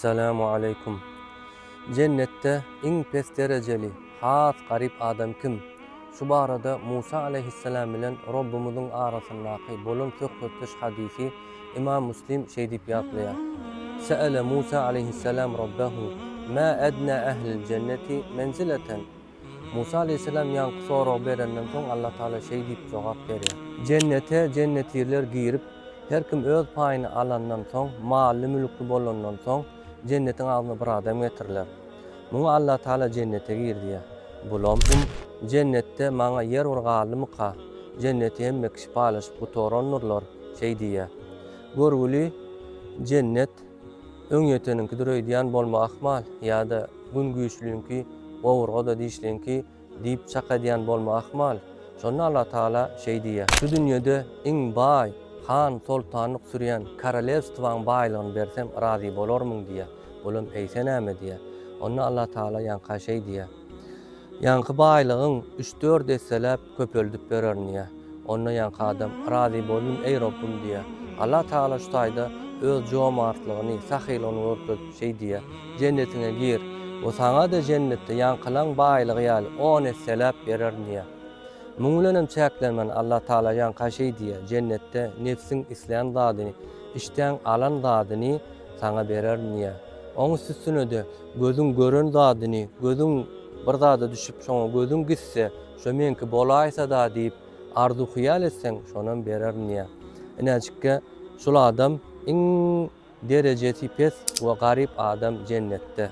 Essalamu aleykum. Jennetde iň pes derejeli, has garyp adam kim? Şu barada Musa aleýhissalam bilen Robbumyzyň arasyndaky bolan söhbetdeş hadysy Imam Muslim şeýdip ýatlaýar, Se'ele Musa aleýhissalam Robbehu, Mä ednâ ehlil jenneti menzileten? Musa aleýhissalam ýaňky soragy berenden soň Allatagala şeý diýip jogap berýär. Jennete jennetirler girip, her kim öz paýyny alandan soň, mally-mülkli bolandan soň, jennetiň agzyna bir adam getiriler. Muňa Allatagala jennete gir diýýär. Bulam, Hum, jennetde maňa ýer bir galdymyka? Jenneti hemme kişi paýlaşyp gutarandyrlar, şeý diýýär. Görgüli, jennet. Öňýeteniňkidir öýdýän bolma ahmal, ýa-da Gün güýçlüňki, gowurga-da dişliňki diýip çak edýän bolma ahmal. Şonda Allatagala şeý diýýär. Şu dünýede iň baý, han-soltanlyk sürýän korolewstwaň baýlygyny bersem razy bolarmyň diýýär. Olam eýse näme diýýär. Onda Allatagala ýaňka şeý diýýär. Ýaňky baýlygyň üç-dört esseläp köpeldip bererin diýýär. Onda ýaňky adam, Razy boldum, eý Robbym! diýýär. Allatagala şu taýda Öz jomartlygyny, sahylygyny görkezip, şeý diýýär, Jennetiňe gir we saňa-da jennetde ýaňkylaň baýlygy ýaly on esseläp bererin diýýär. Muň bilen hem çäklenmän, Allatagala ýaňka şeý diýýär, Jennetde nebsiň islän zadyny, işdäň alan zadyny saňa bererin diýýär. Oň üstüsine-de, Gözüň gören zadyny, gözüň bir zada düşüp, şoňa gözüň gitse, şo meňki bolaýsa-da diýip, arzuw-hyýal etseň, şonam bererin diýýär. Inäjikge, şul adam iň derejesi pes we garyp adam jennetde.